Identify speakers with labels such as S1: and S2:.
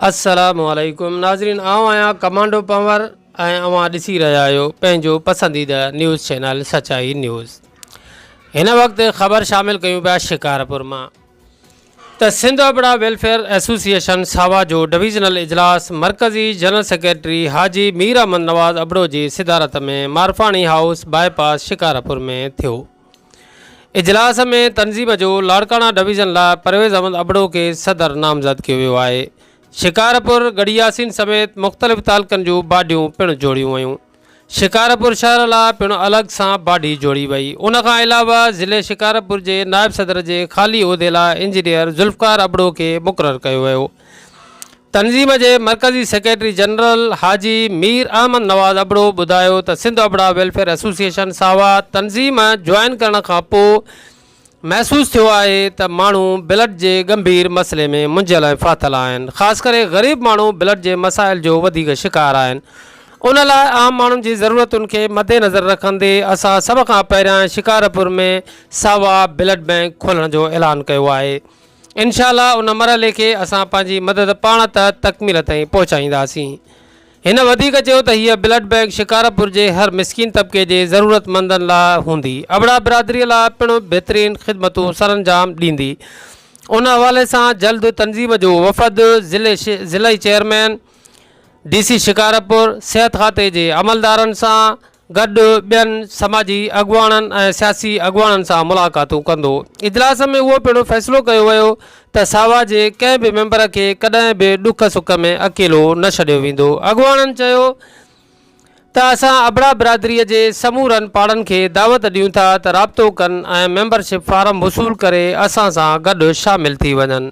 S1: السلام عليڪم ناظرين آئون آهيان ڪمانڊو پنور ۽ اوهان ڏسي رهيا آهيو پنهنجو پسنديده نيوز چينل سچائي نيوز هن وقت خبر شامل ڪيون پيا شڪارپور مان ته سنڌ ابڙا ويلفيئر ايسوسيئيشن ساوا جو ڊويزنل اجلاس مرڪزي جنرل سيڪريٽري حاجي مير احمد نواز ابڙو جي صدارت ۾ Marfani house bypass Shikarpur ۾ ٿيو اجلاس ۾ تنظيم جو لاڙڪاڻا ڊويزن لاء پرويز احمد ابڙو کي صدر نامزد ڪيو ويو آهي. شڪارپور ڳڙهي ياسين سميت مختلف تعلقن جون باڊيون پڻ جوڙيون ويون. شڪارپور شهر لاء پڻ الڳ سان باڊي جوڙي وئي. ان کان علاوه ضلعي شڪارپور جي نائب صدر جي خالي عهدي لاء انجنيئر ذوالفقار ابڙو کي مقرر ڪيو ويو. تنظيم جي مرڪزي سيڪريٽري جنرل حاجي مير احمد نواز ابڙو ٻڌايو ته سنڌ ابڙا ويلفيئر ايسوسيئيشن ساوا تنظيم جوائن ڪرڻ کان پوء محسوس ٿيو آهي ته ماڻهو بلڊ جي ڳنڀير مسئلي ۾ منجهيل ۽ ڦاٿل آهن خاص ڪري غريب ماڻهو بلڊ جي مسائل جو وڌيڪ شڪار آهن ان لاء عام ماڻهن جي ضرورتن کي مدنظر رکندي اسان سڀ کان پهريان شڪارپور ۾ ساوا بلڊ بئنڪ کولڻ جو اعلان ڪيو آهي انشاء الله ان مرحلي کي اسان پنهنجي مدد پاڻ تحت تڪميل تائين پهچائينداسين. هن وڌيڪ چيو ته هيء بلڊ بئنڪ شڪارپور جي هر مسڪين طبقي جي ضرورتمندن لاء هوندي، ابڙا برادري لاء پڻ بهترين خدمتون سرانجام ڏيندي. ان حوالي سان جلد تنظيم جو وفد ضلعي چيئرمين، ڊي سي شڪارپور، صحت کاتي جي عملدارن سان، گڏ ٻين سماجي اڳواڻن ۽ سياسي اڳواڻن سان ملاقاتون ڪندو. اجلاس ۾ اهو پڻ فيصلو ڪيو ويو ته ساوا جي ڪنهن به ميمبر کي ڪڏهن به ڏک سک ۾ اڪيلو نه ڇڏيو ويندو. اڳواڻن چيو ته اسان ابڙا برادري جي سمورن پاڙن کي دعوت ڏيون ٿا ته رابطو ڪن ۽ ميمبر شپ فارم وصول ڪري اسان سان گڏ شامل ٿي وڃن.